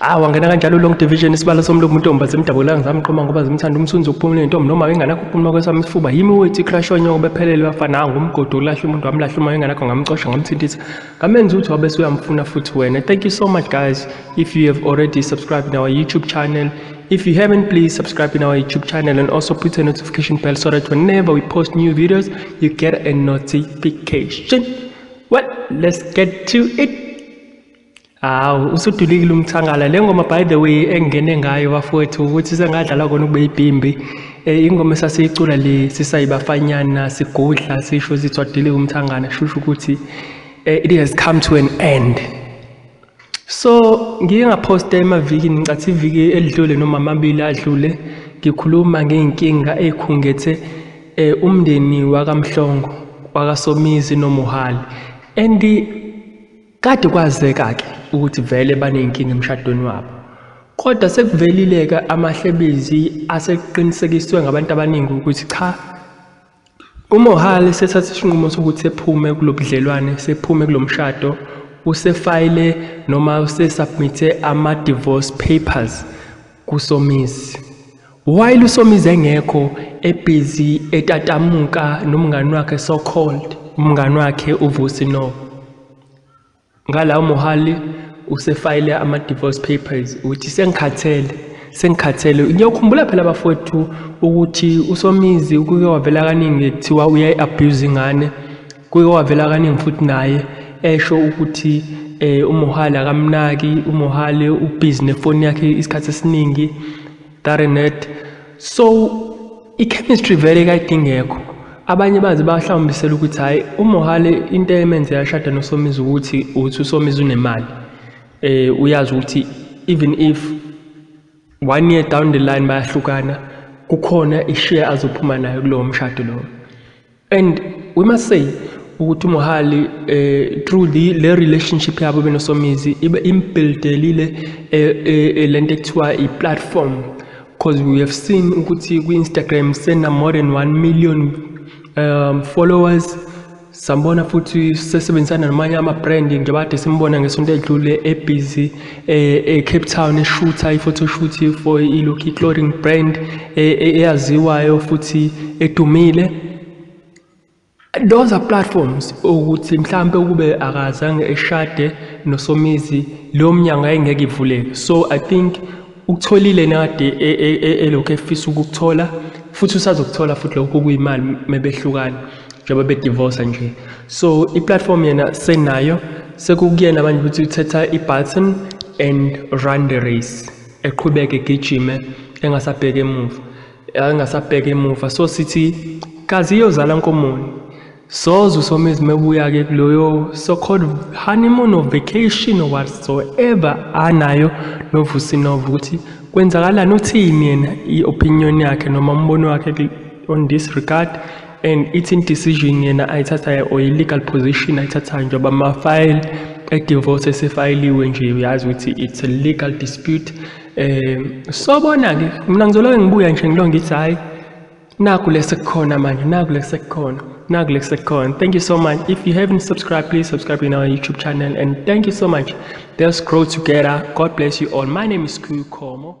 Ah wangena kanjalo long division isibalo somlomo intombi azimdabula ngizamqoma ngoba zimthanda umsunzi ukuphumula intombi noma enganakho ukuphumula kwesami isifuba yimi wethi crash onyoko bephelele bafana hawu ngumgodo ulahle umuntu wamlahle uma enganakho ngamcosha ngamthintisa ngamenza ukuthi wabe suyamfuna futhi wena thank you so much guys if you have already subscribed in our youtube channel If you haven't, please subscribe in our YouTube channel and also put a notification bell so that whenever we post new videos, you get a notification. Well, let's get to it. Hawu usudulikile umthangala le ngoma by the way engingene ngayo bafowethu ukuthi sengadlala kona ukube ibhimbi eh, ingoma esasiyicula le sisayibafanyana sigudla sisho sithi wadilika umthangana shusho ukuthi eh, it has come to an end so ngike ngaphosta emavikini ngicathi iviki elidlule noma amabili adlule ngikhuluma ngey'nkinga ey'khungethe eh, umndeni wakamhlongo wakasomizi nomuhali and Kade kwazeka-ke ukuthi vele baney'nkinga emshadweni wabo. Kodwa sekuvelile-ke amahlebezi asekuqinisekiswe ngabantu abaningi ukuthi cha, uMohale sethathe isinqumo sokuthi sephume kulo budlelwane, sephume kulo mshado, usefayile noma usesubmithe ama-divorce papers. kusomizi while usomizi engekho ebhizi etatamuka nomngani wakhe so called umngani wakhe uvusi no ngalawo mohali usefayile ama-divorce papers ukuthi sengikhathele sengikhathele ngiyokhumbula phela bafowethu ukuthi usomizi kuke wavela kaningi kuthiwa uyayi-abuse ingane Kuye wavela kaningi futhi naye esho ukuthi eh uMohale akamnaki, uMohale ubhizi nefoni yakhe isikhathi esiningi, Darrenet. So i-chemistry vele kayide ingekho. Abanye baze bahlawumbisela ukuthi hhayi uMohale into emenze yashada noSomizi ukuthi uthi uSomizi unemali. Eh uyazi ukuthi even if one year down the line bayahlukana kukhona ishiya azophuma nayo kulowo mshado lowo. and we must say ukuthi uMohali eh through the le relationship yabo benosomizi ibe imbuildelile eh, eh, eh, lento ekuthiwa i platform because we have seen ukuthi ku Instagram sena more than 1 million um followers sambona futhi sesebenzisana namanye ama brand njengoba simbona ngesonto edlule ebusy eCape Town eshutha i-photoshoot for iLucky Clothing brand e, e, eyaziwayo futhi edumile those are platforms ukuthi mhlambe ukube akazange eshade nosomizi leyo mnyango ayengeke ivuleke so i think ukutholile nade e, elokhu efisa ukukuthola futhi usazokuthola futhi lokho kuyimali mebehlukana njengoba bedivorce nje so i-platform yena senayo sekukuyena manje ukuthi uthetha i-button and run the race eqhubeke egijime engasabheke emuva engasabheke emuva so sithi kazi iyozala nkomoni soze usomizi mebuya-ke kuloyo so-called honeymoon or vacation or whatsoever anayo novusinova ukuthi kwenzakalani uthini yena i-opinion yakhe noma umbono wakhe on this regard and it's in decision yena ayithathayo or i-legal position ayithathayo njengoba ama-file e-divorce esefayiliwe nje uyazi ukuthi it's a legal dispute um sobona-ke mina ngizoloke ngibuya nje ngilo ngithi hhayi naku lesekukhona manje naku lesekukhona naku lesekukhona thank you so much if you haven't subscribed please subscribe in our youtube channel and thank you so much let's grow together god bless you all my name is Kukomo.